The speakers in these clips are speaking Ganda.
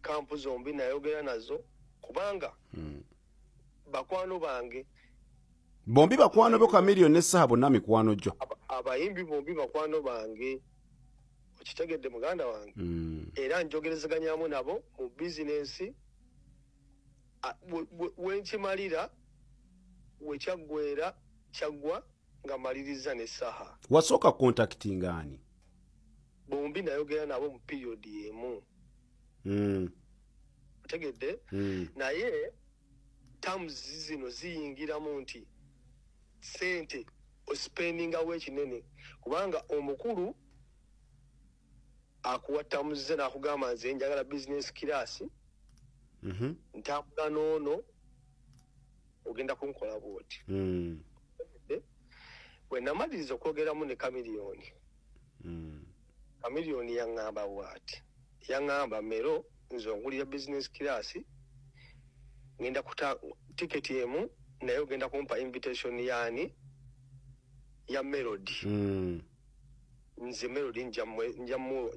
kampu zombi nayogera nazo kubanga hmm. bakwano bange bombi bakwano bo kamiliyo ne saha bonna mikwano gyo abayimbi bombi bakwano bange okitegedde muganda wange hmm. era njogerezaganyamu nabo mu bizinensi wenkimalira wekyaggwera kyaggwa nga maliriza ne saha wasooka kontakiti ngaani bombi nayogera nabo mu period emu mm. otegedde mm. naye terms zino ziyingiramu nti sente ospendingawo ekinene kubanga omukulu akuwa terms ze nakugamba nze njagala business class mm -hmm. ntambula noono ogenda kunkola bwoti mm. bwenamaliriza okwogeramu ne kamiliyoni mm. chameleon yaŋŋamba bwati yaŋŋamba mero nze ongulira business class ngenda kuta tiketi emu naye ogenda kumpa invitation yaani ya melody mm. nze melody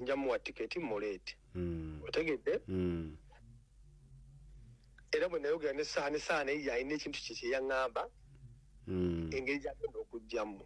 njamuwa tiketi muleete mm. otegedde mm. era bwe nayogera nesaani saana eyo yalina ekintu kye kyeyaŋŋamba mm. engeri gyagenda okugjamu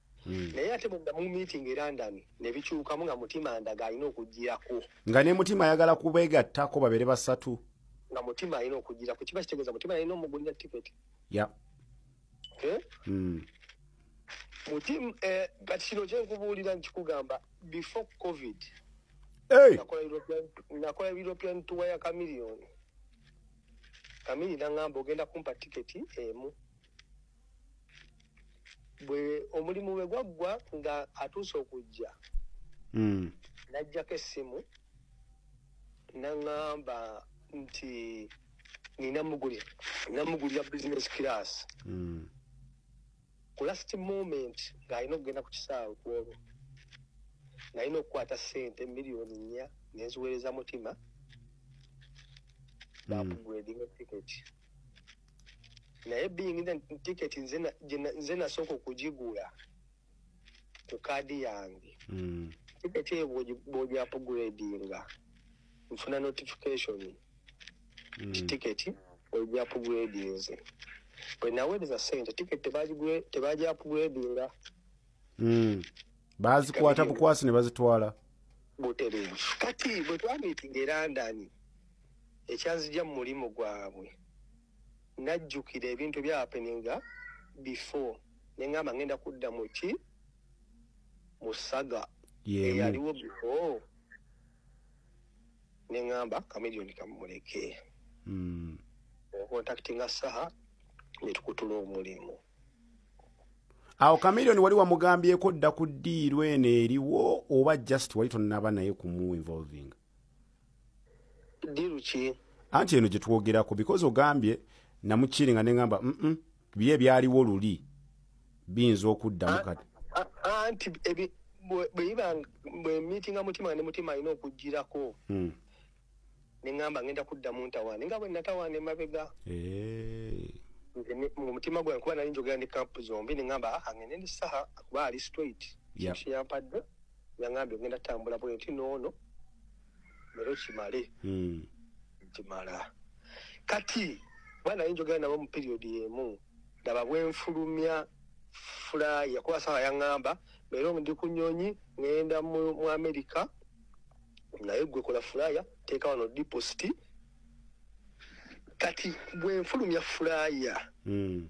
Hmm. naye ate bwenda mu meeting e london nebikyukamu nga mutima ndaga alina okugirako nga ne mutima ayagala kubeegattako babeere basatu nga mutima alina okugirako kiba kitegeeza mutima alina omugulira tiketi ya eh? hmm. mutima eh, kati kino kyenkubuulira nkikugamba before covid nakola european tour ya kamiliyoni kamili nangamba ogenda kumpa tiketi emu bwe omulimu bwe gwaggwa nga atuuse okujja hmm. najjako essimu naŋamba nti ninamugulira business class hmm. ku last moment ng'alina okugenda ku kisaawe kwolwo nalina okukwata sente miliyoni nnya nenziweereza mutima bakugredinga hmm. tiketi naye being the ticket nze nasooka okugigula ku kaadi yange hmm. ticket eyo bwogyapugredinga nfuna notification hmm. ti ticket ogyapugredinze bwenaweereza sente ticket tebagyapugredinga hmm. bazikwata bukwasi ne bazitwala butereevu kati bwe twamitinga erandani ekyanzija mu mulimu gwabwe najjukira ebintu ebyapeninga before nengamba ngenda kudda muki musaga eyaliwo before nengamba kamilioni kamumuleke hmm. okontaktinga saha netukutula omulimu awo kamilioni wali wamugambyeko dda ku diiru eno eriwo oba just wali tonaba naye kumuinvolvinga diru ki anti eno gye twogerako because ogambye namukiiri nga neŋamba mm bye ebyaliwo luli biyinza okuddamu kati anti bweyiba bwemitinga mutima ne mutima alina okugirako hmm. neŋamba ngenda kudda mu ntawaana nga bwe natawaana emabega eh. omutima gwange kuba nali njogera ne kampu zombi neŋamba ah, angende ndi saha kuba ali straight yampadde yangambye ngenda tambula bwe nti noono lero kimale hmm. kimala kati bana yinjogera nabo mu period emu ndaba bwenfulumya fulaya kuba sawa yangamba lero ndi ku nyonyi ngenda mu amerika naye gwe kola fulaya teeka wano deposit kati bwenfulumya fulaya mm.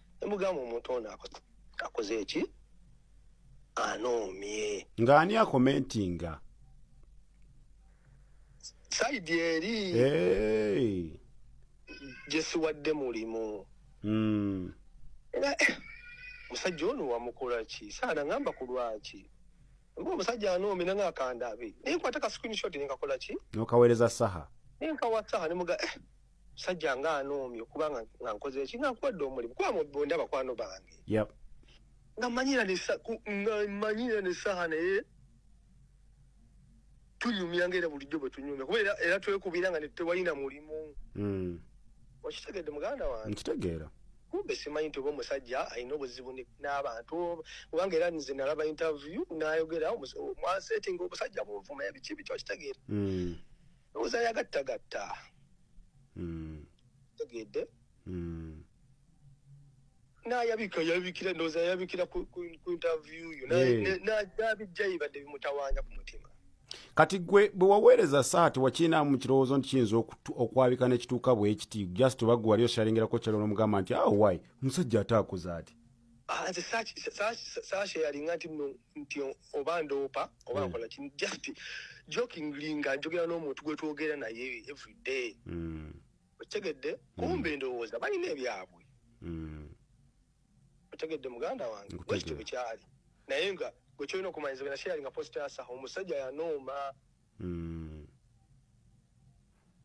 nemugamba omuntu ono akoze eki anoomye nga ani akomentinga saidi eri gyesiwadde mulimu hmm. era eh, musajja ono wamukola ki saana ngamba ku lwaki mba omusajja anoomye nanga akandabe naye kwata ka screenshot nenkakola ki nokaweereza saha nenkawa saha nemuga eh, sajja nga anoomi okuba nga nkoze eki nga nkuwadde omulimu kuba mubonda bakwano bange nga manyira nemanyira nesaha naye tunyumya nga era bulijjo bwe tunyumya kuba era twekubira nga netewalina mulimu hmm. okitegedde muganda wange nkitegeera kumbe simanyi nti oba omusajja alina obuzibu n'abantu kubanga era nze nalaba interview nayogera mwasetinga omusajja munvuma ebiki biki okitegeera hmm. ndowooza yagattagatta hmm. tegedde hmm. nayabika yabikira ndowooza yabikira ku interview yo nabijja yibadde bimutawanya ku mutima kati gwe bwe waweereza saa tewakiinaamu mu kirowoozo nti kiyinza okwabika nekituuka bwekiti just oba gwe wali oshalingerako kyalo nomugamba nti awo ah, wai omusajja ate akoze ati ah, saashe yalinga nti no nti oba ndoopa oba hmm. nkola kini just jokingly nga njogera n'omuntu gwe twogera naye everyday hmm. okitegedde hmm. kumbe endowooza balina ebyabwe otegedde muganda wange bwekityo bwekyali naye nga gwekyolina okumanyiza bena sharinga post yasa omusajja yanooma hmm.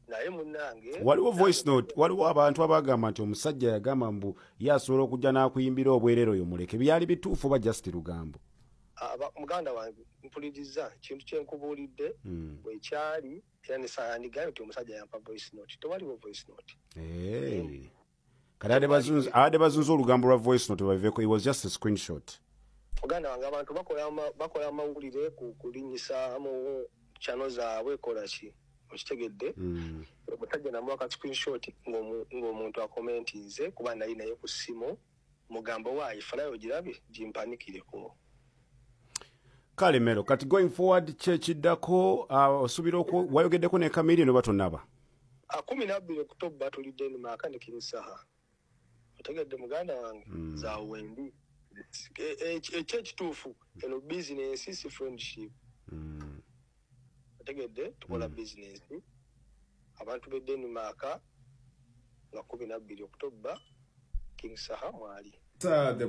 naye munange waliwo voice note waliwo abantu abagamba nti omusajja yagamba mbu ye asobola okujja n'akuyimbira obwerero yo muleke byali bituufu oba just lugambo muganda wange mpuliriza kintu kyenkubuulidde hmm. wekyali era nesaandigayo nti omusajja yampa voice note tewaliwo voice note kati abadde bazunza olugambo lwa voice note baveko it was just a screenshot muganda wange abantu bakola amawulire kulinyisa mu chano zaabwe kola ki okitegedde hmm. omusajja namuwa ka screenshot ng'omuntu akomentinze kuba nali naye ku ssimu mugambo waayi falayo girabe gimpanikireko kale mero kati going forward kyekiddako uh, osuubira wayogeddeko ne kamiri noba tonaba akumi ah, nabbiri okutobba tuli denmark ne king saha otegedde muganda wange mm. za wendi ekyekituufu e, e, eno bizinensi si friendship mm. otegedde tukola mm. bizinensi abantu be denmark nga kumi nabbiri okutobba king saha mwali the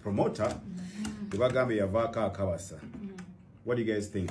promoter mm. ebagambye yavaako akabasa mm. what do you guys think